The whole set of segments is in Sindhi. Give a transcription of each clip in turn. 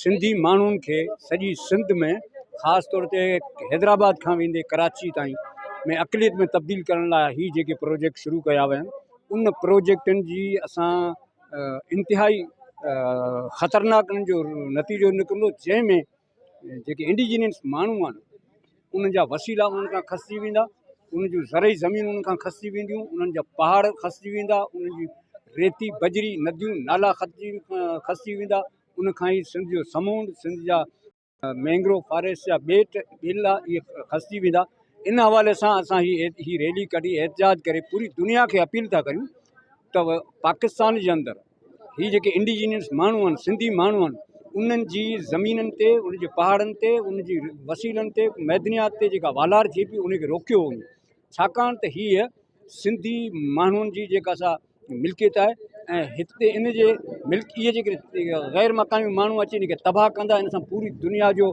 سنڌي ماڻهن کي سڄي سنڌ ۾ خاص طور تي حيدرآباد کان ويندي ڪراچي تائين ۾ اقليت ۾ تبديل ڪرڻ لاء هي جيڪي پروجيڪٽ شروع ڪيا ويا ان پروجيڪٽن جي اسان انتهائي خطرناڪ ان جو نتيجو نڪرندو جنهن ۾ جيڪي انڊيجنس ماڻهو آهن انهن جا وسيلا انهن کان کسجي ويندا، انهن جون زرعي زمينون انهن کان کسجي وينديون، انهن جا پهاڙ کسجي ويندا، انهن جي ريتي، بجري، نديون، نالا کسجي ويندا، ان کان ئي سنڌ جو سمونڊ، سنڌ جا مينگروو فاريسٽ جا ٻيٽ، ٻيلا اهي کسجي ويندا، ان حوالي سان اسان هي ريلي ڪڍي احتجاج ڪري پوري دنيا کي اپيل ٿا ڪريون ته پاڪستان جي اندر. هي جيڪي انڊيجينس ماڻهو آهن سنڌي ماڻهو آهن انهن جي زمينن تي ان جي پهاڙن تي ان جي وسيلن تي معدنيات تي جيڪا والار ٿئي پئي ان کي روڪيو وڃي ڇاڪاڻ ته هيء سنڌي ماڻهن جي جيڪا سا ملڪيت آهي ۽ هتي ان جي ملڪ جي ڪري غير مقامي ماڻهو اچي ان کي تباهه ڪندا ان سان پوري دنيا جو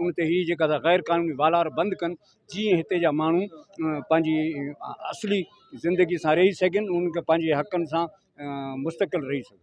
ان تي هي جيڪا سا غير قانوني والار بند ڪن جيئن هتي جا ماڻهو پنهنجي اصلي زندگي سان رهي سگهن انهن کي پنهنجي حقن سان مستقل رهي سگهن